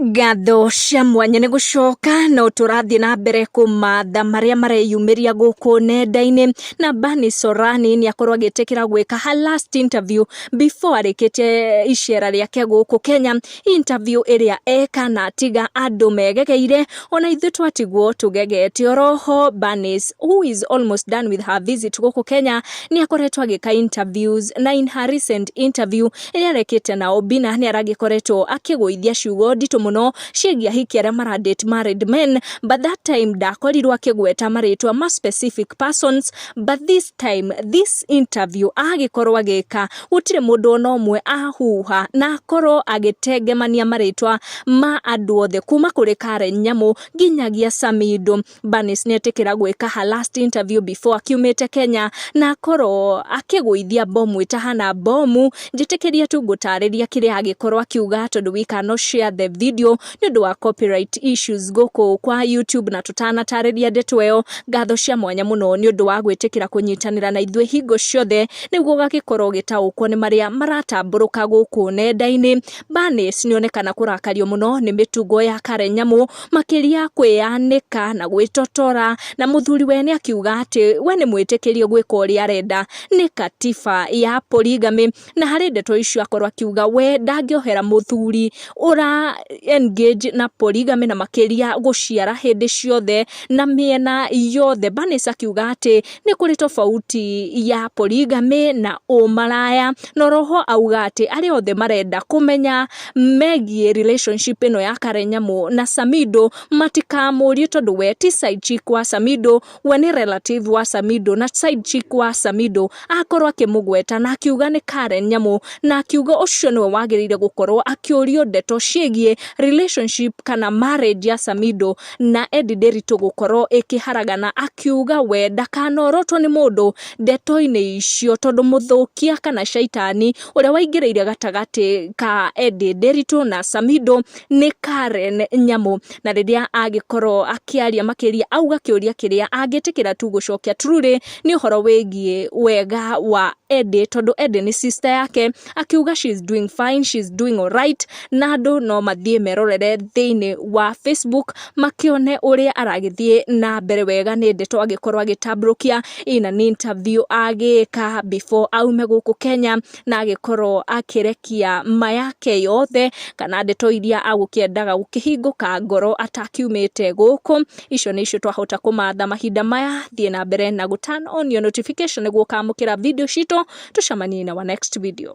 Ngatho cia mwanya nĩ gũcoka no tũrathiĩ na mbere kũmatha marĩa mareyumĩria gũkũ nenda-inĩ na Bani Sorani nĩ akorwo agĩtĩkĩra gwĩka her last interview before arĩkĩte icera rĩake gũkũ Kenya interview ĩrĩa eka na atiga andũ megegeire ona ithuĩ twatigwo tũgegete oroho Bani who is almost done with her visit gũkũ Kenya nĩ akoretwo agĩka interviews na in her recent interview ĩrĩa arekĩte na Obina nĩ aragĩkoretwo akĩgũithia ciugo nditũ mũno ciĩgiĩ ahiki arĩa mara date married men but that time ndakorirwo akĩgweta marĩtwa ma specific persons but this time this interview agĩkorwo agĩka gũtirĩ mũndũ ona ũmwe ahuha na akorwo agĩtengemania marĩtwa ma andũ othe kuma kũrĩ Karen Nyamũ nginyagia Samido Barnes nĩ etĩkĩra gwĩka her last interview before akiumĩte Kenya na akorwo akĩgũithia mbomu ĩtahana mbomu njĩtĩkĩria tu ngũtarĩria kĩrĩa agĩkorwo akiuga tondũ we cannot share the video nĩ ũndũ wa copyright issues gũkũ kwa YouTube na tũtanatarĩria ndeto ĩyo ngatho cia mwanya mũno nĩ ũndũ wa gwĩtĩkĩra kũnyitanĩra na ithuĩ hingo ciothe nĩguo gagĩkorwo gĩtaũkwo nĩ marĩa maratambũrũka gũkũ nenda-inĩ Barnes nĩ onekana kũrakario mũno nĩ mĩtugo ya Karen Nyamu makĩria kwĩyanĩka na gwĩtotora, na mũthuri we nĩ akiuga atĩ we nĩ mwĩtĩkĩrie gwĩka ũrĩa arenda, nĩ katiba ya polygamy, na harĩ ndeto icio akorwo akiuga we ndangĩohera mũthuri ũra engage na polygamy na makĩria gũciara hĩndĩ ciothe, na mĩena yothe. Bernice akiuga atĩ nĩ kũrĩ tofauti ya polygamy na ũmaraya, na oro ho auga atĩ arĩa othe marenda kũmenya megiĩ relationship ĩno ya Karen Nyamu na Samido, matikamũrie tondũ we ti side chick wa Samido, we nĩ relative wa Samido, na side chick wa Samido akorwo akĩmũgweta na akiuga nĩ Karen Nyamu, na akiuga ũcio nĩwe wagĩrĩire gũkorwo akĩũrio ndeto ciĩgiĩ relationship kana marriage ya Samido. na Eddie Nderitu gũkorwo ĩkĩharagana akiuga we ndakanorotwo nĩ mũndũ ndeto-inĩ icio tondũ mũthũkia kana caitani ũrĩa waingĩrĩire gatagatĩ ka Eddie Nderitu na Samido nĩ Karen Nyamu na rĩrĩa agĩkorwo akĩaria makĩria auga kĩũria kĩrĩa angĩtĩkĩra tu gũcokia Truly nĩ ũhoro wĩgiĩ wega wa Eddie tondũ Eddie nĩ sister yake akiuga she is doing fine, she is doing alright na andũ no mathiĩ merorere thĩinĩ wa Facebook makĩone ũrĩa aragĩthiĩ na mbere wega nĩ ndeto agĩkorwo agĩtambũrũkia ina nĩ interview agĩka before aume gũkũ Kenya na agĩkorwo akĩrekia ma yake yothe kana ndeto iria agũkĩendaga gũkĩhingũka ngoro atakiumĩte gũkũ Icio nĩ icio twahota kũmatha mahinda maya. Thiĩ na mbere na gũ turn on your notification nĩguo ũkamũkĩra video citũ. Tũcemanie in our next video.